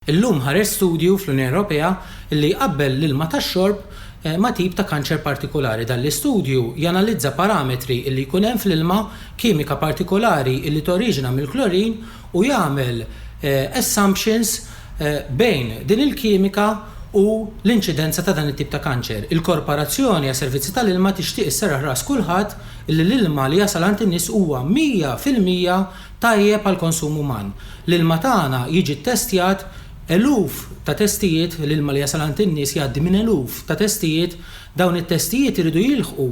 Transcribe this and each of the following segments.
Illum ħareġ studju fl-Unjoni Ewropea li jqabbel l-ilma tax-xorb ma' tip ta' kanċer partikolari. Dan l-istudju janalizza parametri li jkun hemm fl-ilma, kimika partikolari li toriġina mill-klorin u jagħmel assumptions bejn din il-kimika u l-inċidenza ta' dan it-tip ta' kanċer. Il-Korporazzjoni għas-Servizzi tal-Ilma tixtieq isserraħ ras kulħadd li l-ilma li jasal għand in-nies huwa 100 fil-mija tajjeb għall-konsum uman. L-ilma tagħna jiġi ttestjat eluf ta' testijiet, l-ilma li jasal għand in-nies jgħaddi minn eluf ta' testijiet. Dawn it-testijiet iridu jilħqu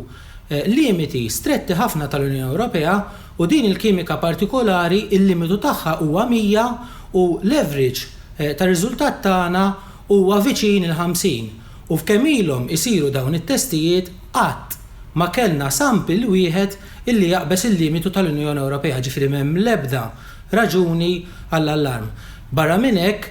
limiti stretti ħafna tal-Unjoni Ewropea u din il-kimika partikolari l-limitu tagħha huwa 100 u l-average tar-riżultat tagħna huwa viċin il-50. U f'kemm ilhom isiru dawn it-testijiet, qatt ma kellna sample wieħed illi jaqbeż il-limitu tal-Unjoni Ewropea, ġifieri m'hemm l-ebda raġuni għall-allarm. Barra minn hekk,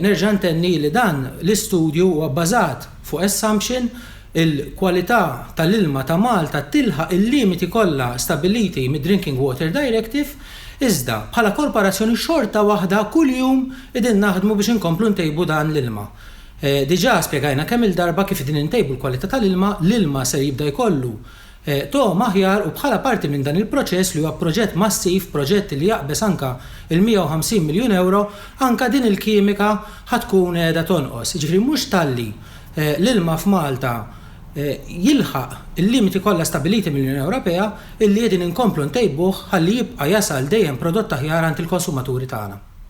nerġa' ntenni li dan l-istudju huwa bbażat fuq assumption, il-kwalità tal-ilma ta' Malta tilħaq il-limiti kollha stabbiliti mid-Drinking Water Directive, iżda bħala korporazzjoni xorta waħda kuljum qegħdin naħdmu biex inkomplu ntejbu dan l-ilma. Diġà spjegajna kemm-il darba kif din intejbu l-kwalità tal-ilma, l-ilma ser jibda jkollu togħma aħjar u bħala parti minn dan il-proċess li huwa proġett massiv, proġett li jaqbeż anke l-150 miljun ewro, anke din il-kimika ħa tkun qiegħda tonqos. Jiġifieri mhux talli l-ilma f'Malta jilħaq il-limiti kollha stabbiliti mill-Unjoni Ewropea illi qegħdin inkomplu ntejbuh ħalli jibqa' jasal dejjem prodott aħjar għand il-konsumaturi tagħna.